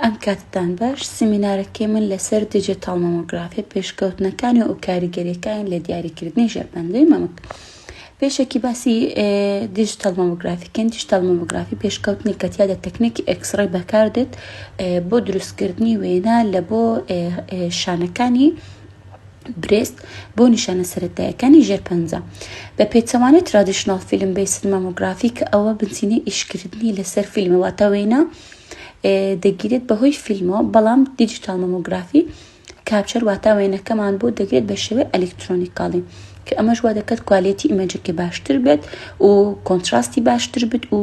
ئەم کاتتان باش، سیمینارەکەی من لەسەر دیجیتاڵ مەمۆگرافی، پێشکەوتنەکانی و کاریگەریەکانی لە دیاریکردنی ژێرپەنجەی مەمک. پێشەکی باسی دیجیتاڵ مەمۆگرافی کەین، دیجیتاڵ مەمۆگرافی پێشکەوتنی کە تیادا تەکنێکی ئێکسڕی بەکاردێت بۆ دروستکردنی وێنا لە بۆ شانەکانی برێست بۆ نیشانە سەرەتایەکانی ژێرپەنجە بە پێچەوانەی ترادیشنال فیلم بەی سلمەمۆگرافی کە ئەوە بنچینەی ئیشکردنی لەسەر فیلمەوە تاوێنە دەگیرێت بەهۆی فیلمەوە بەڵام دیجیتال مەمۆگرافی کاپچەر واتا وێنەکەمان بۆ دەگرێت بە شێوەی ئەلکترۆنیکاڵی کە ئەمەش وا دەکات کوالێتی ئیمەجەکە باشتر بێت و کۆنتراستی باشتر بێت و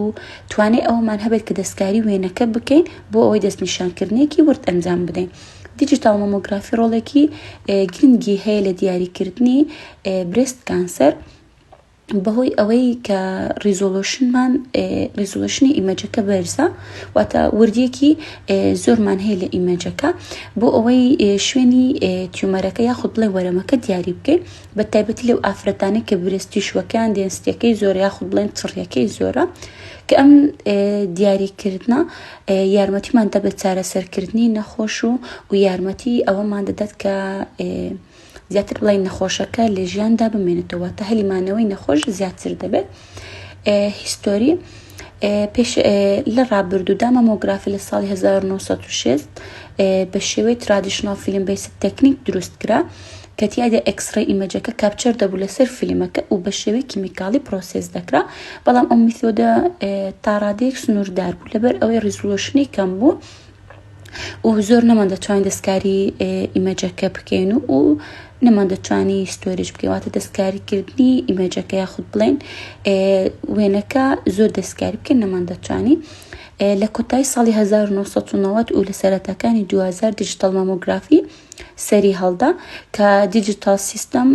توانێت ئەومان هەبێت کە دەستکاری وێنەکە بکەین بۆ ئەوەی دەستنیشانکردنێکی ورد ئەنجام بدەین. دیجیتال مەمۆگرافی ڕۆڵێکی گرنگی هەیە لە دیاریکردنی برست کانسەر بەهۆی ئەوەی کە ڕیزۆلۆشنمان ڕیزۆلۆشنی ئیمەجەکە بەرزە واتە وردیەکی زۆرمان هەیە لە ئیمەجەکە بۆ ئەوەی شوێنی تیومەرەکە یاخود بڵێ وەرەمەکە دیاری بکەین بە تایبەتی لەو ئافرەتانی کە برستی شوەکان دێنستەکەی زۆر یاخود بڵێن تڕیەکەی زۆرە کە ئەم دیاریکردە یارمەتیمان دە بە چارەسەرکردنی نەخۆش و و یارمەتی ئەوەمان دەدات کە زیاتر بڵین نەخۆشەکە لە ژیاندا بمێنێتەوە واتە هەلی مانەوەی نەخۆش زیاتر دەبێت هیستۆری پێش لە ڕابردوودا مەمۆگرافی لە ساڵی 1960 بە شێوەی ترادیشنال فیلم بەی تەکنیک دروست کرا کە تیادا ئەکسڕی ئیمەجەکە کاپچەر دەبوو لەسەر فیلمەکە و بە شێوی کیمیکاڵی پرۆسس دەکرا بەڵام ئەو میسۆدە تاڕادێک سنووردار بوو لەبەر ئەوەی ڕیزلۆشنی کەم بوو و زۆر نەمان دەتوانین دەستکاری ئیمەجەکە بکەین و و نەمان دەتوانی ستۆریش بکەواتە دەستکاریکردنی ئیمەجەکە یاخود بڵێن وێنەکە زۆر دەستکاری بکەن نەمان دەتوانی لە کۆتای ساڵی 1990 و لە سەرەتاکانی 2000 دیجیتەڵ مامۆگرافی سەری هەڵدا کە دیجیتاڵ سیستەم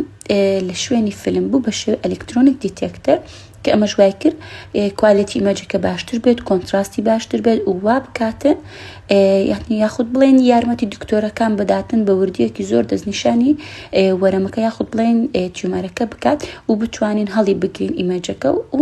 لە شوێنی فیلم بوو بە شێوی ئەلکترۆنیک دیتێکتەر کە ئەمەش وای کرد کوالێتی ئیمەجەکە باشتر بێت کۆنتراستی باشتر بێت و وا بکاتن یعنی یاخود بڵێن یارمەتی دکتۆرەکان بداتن بە وردیەکی زۆر دەستنیشانی وەرەمەکە یاخود بڵێن تیومەرەکە بکات و بتوانین هەڵی بگرین ئیمەجەکە و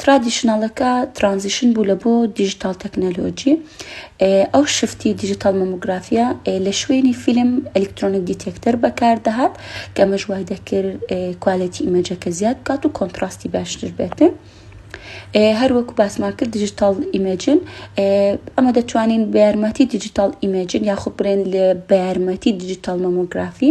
ترادیشنەڵەکە ترانزیشن بوو لە بۆ دیجیتال تەکنەلۆجی ئەو شفتی دیجیتال مەموگرافیا لە شوێنی فیلم ئەلکترۆنیک دیتێکتەر بەکاردەهات کە مەش وای دەکرد کوالەتی ئیمەجەکە زیاد بکات و کۆنتراستی باشتر بێتن. هەر وەکو باسمان کرد دیجیتال ئیمەجن ئەمە دەتوانین بە یارمەتی دیجیتال ئیمەجن یاخود برێن لە بە یارمەتی دیجیتال مەمۆگرافی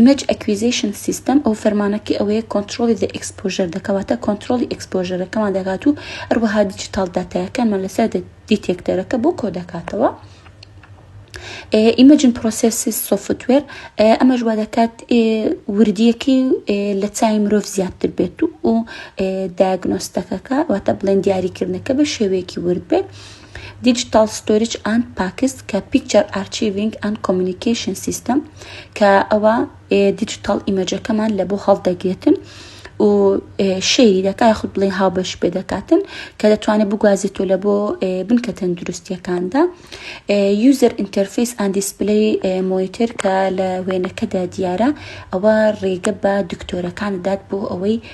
Image Acquisition System، ئەو فەرمانەکەی ئەوەیە کۆنتڕۆڵی The Exposure دەکات، واتە کۆنتڕۆڵی ئێکسپۆژەرەکەمان دەکات و هەروەها دیجیتاڵ داتایەکانمان لەسەر دیتێکتەرەکە بۆ کۆ دەکاتەوە. ئیمەجن پرۆسسی سۆفتوێر ئەمەش وا دەکات وردیەکەی لە چای مرۆڤ زیاتر بێت و داگنۆستەکەکە واتە بڵێن دیاریکردنەکە بە شێوەیەکی ورد بێت Digital Storage and Packs کە Picture Archiving and Communication System کە ئەوە دیجیتال ئیمەجەکەمان لە بۆ هەڵدەگرێتن و شەیری دەکە خود بڵێ هاوبەش پێ دەکاتن کە دەتوانێت بگوازێتۆ لە بۆ بنکە تەندروستیەکاندا یوزەر ئینتەرفیس ئەند دیسپلی مۆیتر کە لە وێنەکەدا دیارە ئەوە ڕێگە بە دکتۆرەکان دات بۆ ئەوەی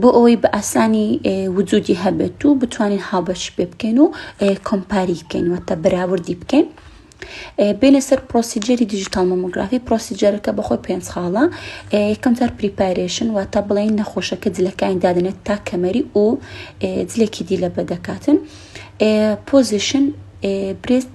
بۆ ئەوەی بە ئاسانی وجودی هەبێت و بتوانین هاوبەش پێ بکەین و کۆمپاری بکەین وەتە بەراوردی بکەین. بینە سەر پرۆسیجری دیجیتال مۆمۆگرافی پرۆسیجرەکە بەخۆی پێنج خاڵە یەکەم جار پریپارێشن واتە بڵێن نەخۆشەکە جلەکانی دادنێت تا کەمەری و جلێکی دی لە بەدەکاتن پۆزیشن برێست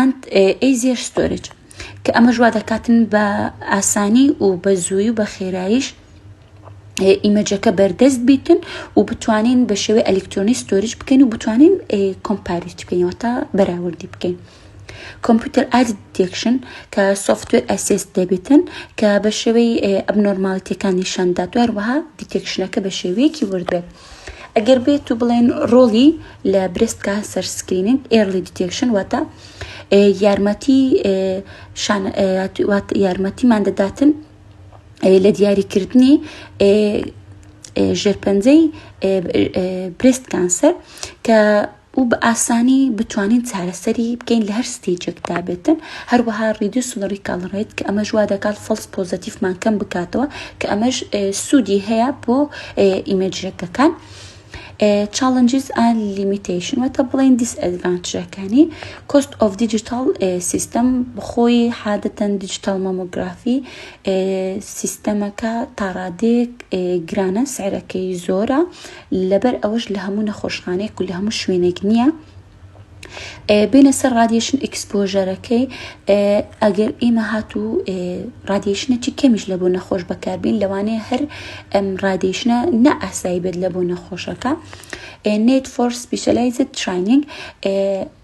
and easier storage کە ئەمەش وا دەکاتن بە ئاسانی و بە زووی و بە خێراییش ئیمەجەکە بەردەست بیتن و بتوانین بە شێوەی ئەلکترۆنی ستۆریج بکەین و بتوانین کۆمپاریت بکەینەوە تا بەراوردی بکەین. کۆمپیوتەر ئاد دێکشن کە سوفتوێر ئەسێس دەبێتن کە بە شێوەی ئەبنۆرماڵەتەکان نیشاندات و هەروەها دیتێکشنەکە بە شێوەیەکی وردبێت. ئەگەر بێت و بڵێن ڕۆڵی لە برست کانسەر سکریننگ ئێرلی دیتێکشن واتە یارمەتی یارمەتیمان دەداتن لە دیاریکردنی ژێرپەنجەی برست کانسەر کە و بە ئاسانی بتوانین چارەسەری بکەین لە هەر ستەیجێکدا بێتن، هەروەها ڕیدیوس لە ڕیکاڵ ڕێت کە ئەمەش وا دەکات فۆڵس پۆزەتیفمان کەم بکاتەوە کە ئەمەش سوودی هەیە بۆ ئیمەجرەکەکان. چاڵنجز ئەند لیمیتیشن واتە بڵێن دیس ئەدڤانتجەکانی کۆست ئۆف دیجیتال سیستەم بخۆی حادەتەن دیجیتال مامۆگرافی سیستەمەکە تاڕادێک گرانە سعرەکەی زۆرە لەبەر ئەوەش لە هەموو نەخۆشخانەیەک و لە هەموو شوێنێک نییە بێنە سەر ڕادیشن ئیکسپۆژەرەکەی ئەگەر ئێمە هات و ڕادیشنەی کەمیش لە بۆ نەخۆش بەکاربین لەوانەیە هەر ئەم ڕادیشنە نە ئاسایی بێت لە بۆ نەخۆشەکە نێت فۆر سپیشلایزت ترایننگ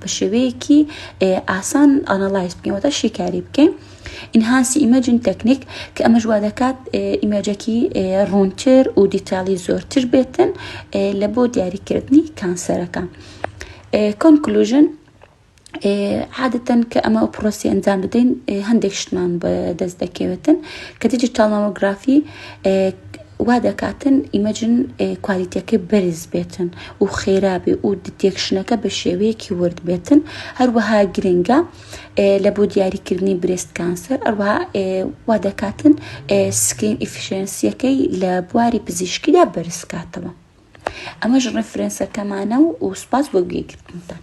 بە شێوەیەکی ئاسان ئەنەڵایز بکەین واتە شیکاری بکەین ئینهانسی ئیمەجن تەکنیک کە ئەمەش وا دەکات ئیمەجەکی ڕوونتر و دیتالی زۆرتر بێتن لە بۆ دیاریکردنی کانسەرەکان کۆنکلوژن عادەتەن کە ئەمە ئەو پرۆسی ئەنجام بدەین هەندێک شتمان بە دەست دەکەوێتن کە دیجیتال مامۆگرافی وا دەکاتن ئیمەجن کوالیتیەکەی بەرز بێتن و خێرا بێ و دتێکشنەکە بە شێوەیەکی ورد بێتن هەروەها گرنگە لە بۆ دیاریکردنی برێست کانسەر ئەوە وا دەکاتن سکرین ئیفشنسیەکەی لە بواری پزیشکیدا بەرزکاتەوە ئەمەش ڕفرەنسەکەمانە و ئوسپاس بۆ گوێگرتنتان